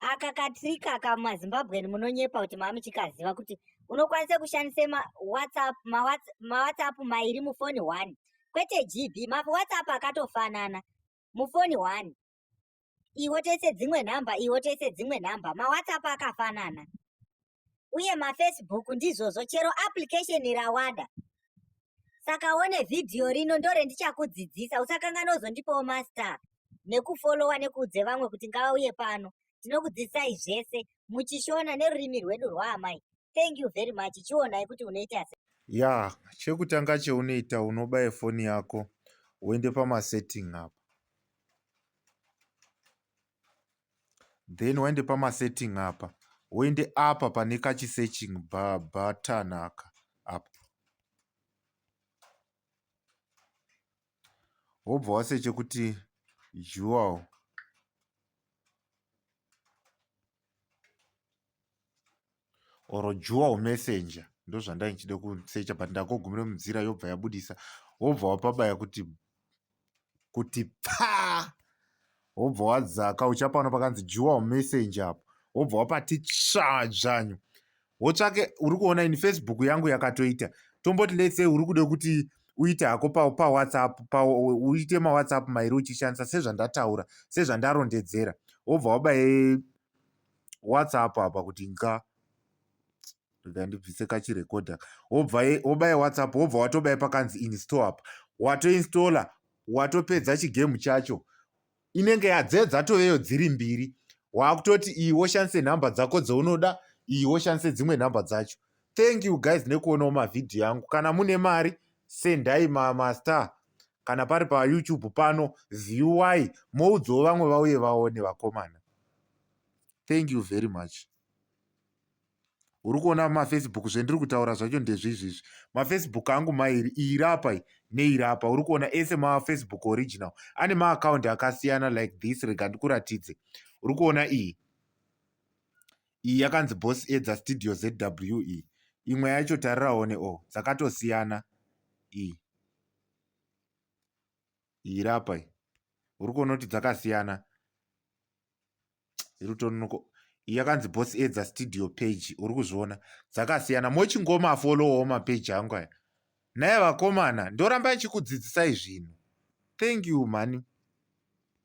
aka katrick aka mazimbabwean munonyepa kuti mamuchikaziva kuti unokwanisa kushandisa mawhatsapp mawhatsapp mairi mufoni one kwete gb mawhatsapp akatofanana mufoni one iwo tese dzimwe nhamba iwo tese dzimwe nhamba mawhatsapp akafanana uye mafacebook ndizvozvo chero application rawada saka one vhidhiyo rino ndorendichakudzidzisa usakanganwa uzondipawo master nekufolowa nekuudze vamwe kuti ngavauye pano tinokudzidzisai zvese muchishona nerurimi rwedu rwaamai thank you very much chionai kuti unoita se ya chekutanga cheunoita unobaya foni yako woende pamasetting apo then waende pamasetting apa woende apa pane kachisearching button aka apa wobva waseche kuti jewel or dual messenger ndozvandai ndichida kusecha but ndakogumira mudzira yobva yabudisa wobva wapabaya kuti kuti paa wobva wadzaka uchapano pakanzi dual messenger apo wobva wapati tsvadzvanyu wotsvake uri kuona ini facebook yangu yakatoita tomboti lets say uri kuda kuti uite hako pawhatsapp pa uite mawhatsapp mairi uchishandisa sezvandataura sezvandarondedzera wobva wabaye what's up apa kuti nxa rega ndibvise kachirekodha wobva wobaya whatsapp wobva watobaya pakanzi install apa watoinstalla watopedza chigemu chacho inenge yadze dzatoveyo dziri mbiri waakutoti iyi woshandise nhamba dzako dzounoda iyi woshandise dzimwe nhamba dzacho thank you guys nekuonawo mavhidhiyo yangu kana mune mari sendai mastar kana pari pa youtube pano viewy moudzawo vamwe vauye vaone vakomana thank you very much uri kuona mafacebook zvendiri kutaura zvacho ndezvizvizvi mafacebook angu mairi iri apa neiri apa uri kuona ese mafacebook original ane maakaundi akasiyana like this rega ndikuratidze uri kuona iyi iyi yakanzi boss edza studio zw iyi imwe yacho tariraone o oh, dzakatosiyana iyi iyi iri apa iyi uri kuona kuti dzakasiyana iri kutonoko iyi yakanzi boss edza studio page uri kuzviona dzakasiyana mochingoma folowawo mapeji angu aya naye vakomana ndoramba ndichikudzidzisai zvinhu thank you mhani